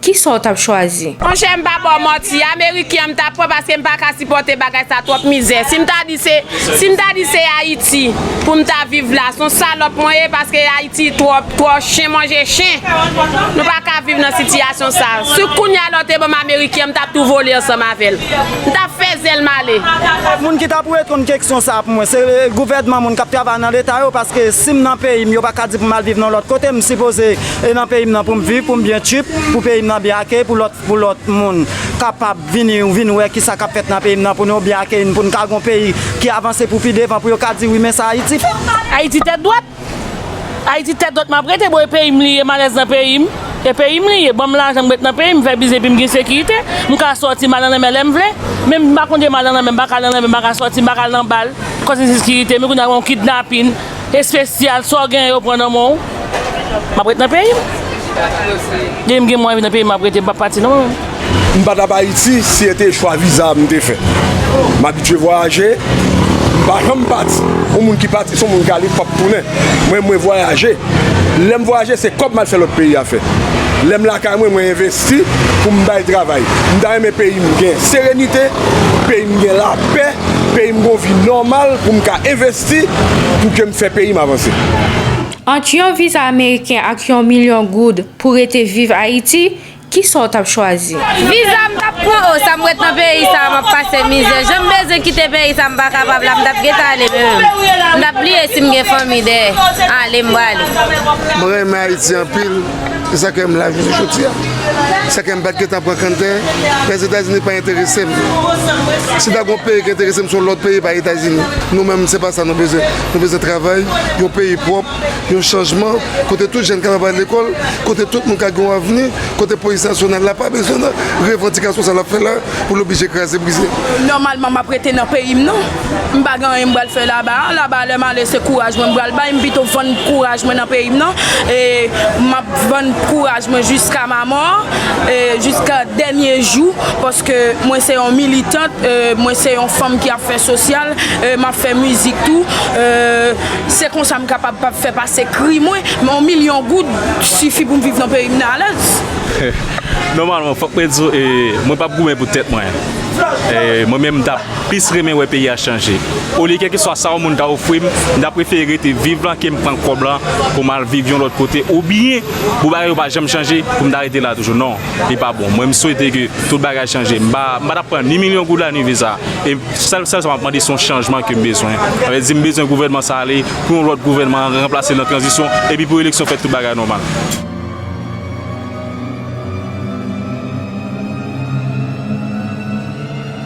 Kisa w tap chwazi? Monchè m pa baw manti ameriken an m ta pran paske m paka sipòte bagay sa twòp mizè si m ta di se si m ta di se ayiti pou m ta viv la son salòp mwen ye paske ayiti twòp twò chen manje chen nou paka viv nan sitiyasyon sa si kounya la w te banm ameriken an m tap tou vole ansanm avèl m tap fè zèl m ale. Moun ki ta pou reponn keksyon sa pou mwen se gouvènman moun kap travay nan leta yo paske sim nan peyim yo paka di pou mal viv nan lòt kote m sipoze e nan peyim nan poum viv poum byen tchuip pou peyim nan byen akeyi pou lòt pou lòt moun kapab vini vin wè kisa kap fèt nan peyim nan pou nou byen akeyi n poun ka gon peyi ki avanse pou pi devan pou yo ka di wi men sa ayiti fè. Ayiti tèt dwat Ayiti tèt dwat map rete boo e peyim li ye m alèz nan peyim e peyim li ye banm lajan m ret nan peyim m fè biznis epim gen sekirite m ka sòti m al nan lanmè lèm vle menm m pa konte m al nan lanmè m pa ka al nan lanmè m pa ka sòti m pa ka al nan bal koz ensekirite men kounya gen yon kidnapin Espesyal sa w genyen yo pran nan men w M ap ret nan peyi m Depi m gen mwayen vin nan peyi m m ap rete m p ap pati non mwen menm. M pa t ap Ayiti si e te chwa viza m te fè. M abitye vwayaje, m pa janm pati. Yon moun ki pati se yon moun ki ale k p ap tounen. Mwen, mwen vwayaje. Lè m vwayaje se kòb m al fè lòt peyi afè. Lè m lakay mwen, mwen envesti pou m bay travay. M ta renmen peyi m gen serenite, peyi m gen lapè, peyi m gen yon vi nòmal pou m ka envesti. Si pou ke m fè peyi m avanse. Ant yon viza ameriken ak yon milyon goud pou rete viv Ayiti, kisa w t ap chwazi? Viza m t ap pran oh sa m ret nan peyi sa a m ap pase mizè jan m bezwen kite peyi sa a m pa kapab la m t ap gentan ale men menm m t ap bliye si m gen fanmi dèyè ale m brale. Mwen renmen Ayiti anpil. Se sa ke m la jounen jodi a. Se sa ke m pa t gen tan pran kanntè. Lèzetazini pa enterese m. Si ta gen yon peyi ki enterese m, se yon lòt peyi, pa Etazini. Nou menm, se pa sa nou bezwen. Nou bezwen travay, yon peyi pwòp, yon chanjman, kote tout jèn kapab al lekòl, kote tout moun ka gen yon avni, kote polis nasyonal la pa bezwen nan revandikasyon sa l ap fè la pou l oblije kraze brize. Nòmalman, m ap rete nan peyi m non. M pa gen anyen m pral fè laba a, laba a lè m ale se kouraj mwen m pral bay, m pito vann kouraj mwen nan peyi m nan e m ap vann kouraj mwen jiska ma mò, jiska dènye jou paske mwen se yon militant, mwen se yon fanm ki ap fè sosyal, m ap fè mizik tou, se konsa m kapab pa fè pase kri mwen, yon milyon goud sifi pou m viv nan peyi m nan alèz. Nòmalman fòk mwen di w e mwen p ap goumen pou tèt mwen, mwen menm m t ap. plis renmen wè peyi a chanje. Olye kèlkeswa sa yon moun ta ofri m, m ta prefere rete viv lan ke m pran kòb lan pou m al viv yon lòt kote oubyen pou bagay yo pa janm chanje pou m ta rete la toujou. Non, li pa bon. Mwen m swete ke tout bagay chanje. M pa ta p pran ni milyon goud la ni viza. E sèl sa m ap mande se yon chanjman ke m bezwen. Sa vle di m bezwen gouvènman sa ale, pou yon lòt gouvènman ranplase l nan tranzisyon epi pou eleksyon fèt tout bagay nòmal.